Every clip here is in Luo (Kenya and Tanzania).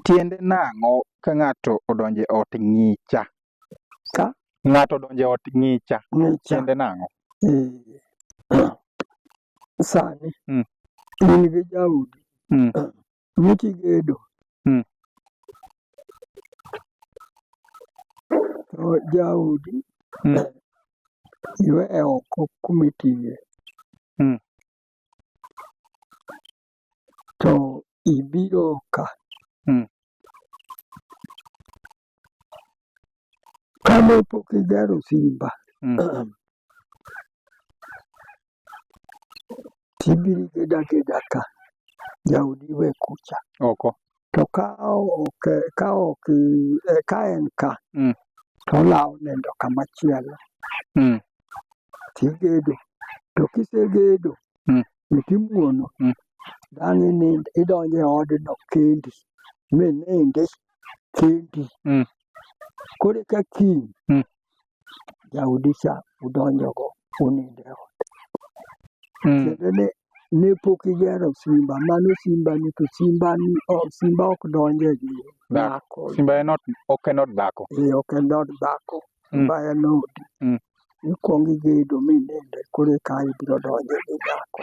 Tiende nang'o ka ng'ato odonjo e ot ng'icha? Ka? Ng'ato odonjo e ot ng'icha. Ng'icha. Tiende nang'o? Eh, Sani Mm. in gi jaodi Mm. miti gedo Mm. to jaodi Mm. iwe oko kumitiye Mm. to ibiro ka. Hmm. Kane pok igero simba, hmm. tibiro igeda ageda ka, jaodi we kucha. Oko. to ka ok ka ok eh, ka en ka Mm. to olawo nindo kama chielo Mm. tigedo to kisegedo Mm. to timuono Mm. dang' inind idonjo e odno kendi minindi kendi Mm. koro ka kiny Mm. jaodicha udonjogo unindo e ot. Mm. Tiende ni ne pok igero simba, mano simbani to simbani o- simba ok donje gi dhako. Simba en ot, ok en od dhako. Ee, ok en od dhako, Mm. simba en odi. Mm. Ikwong igedo mininde koro eka ibiro donje gi nyako.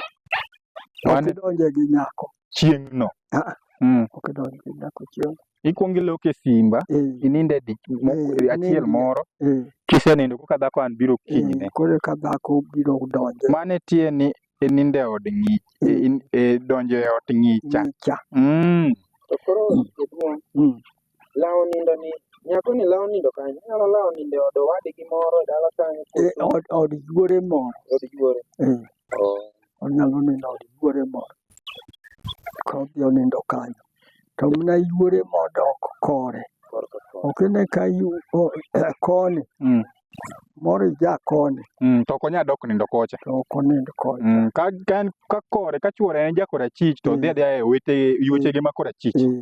Ok Mane- idonje gi nyako, Chieng'no. Ah. Mm. ok idonje gi nyako chieng'. ikwongo iloko e simba eh, ininde di- mo- eh, achiel inindi- moro eh, kisenindo koka dhako an biro eh, kinyne koro ka dhako biro donjo mane tie ni ininde e od ng'i e- eh, in- e donjo e ot ng'icha nyicha mm. To koro jaduong' Mm. lawo nindo ni nyako ni lawo nindo kanyo nyalo lawo nindo e od owadgi moro e dala kanyo Eh, koso od od yuore moro od yuore eh, onyalo nindo od yuore moro kodhi onindo kanyo to mna yuore modok kore ok ine ka yu o- koni Mm. moro ija koni Mm, to ok onyal dok nindo kocha. to ok onind koni Mm, ka ka en ka kore ka chwore en jakora chich to Mm. odhi adhiya e wete yuechege ma kora chich. Eh.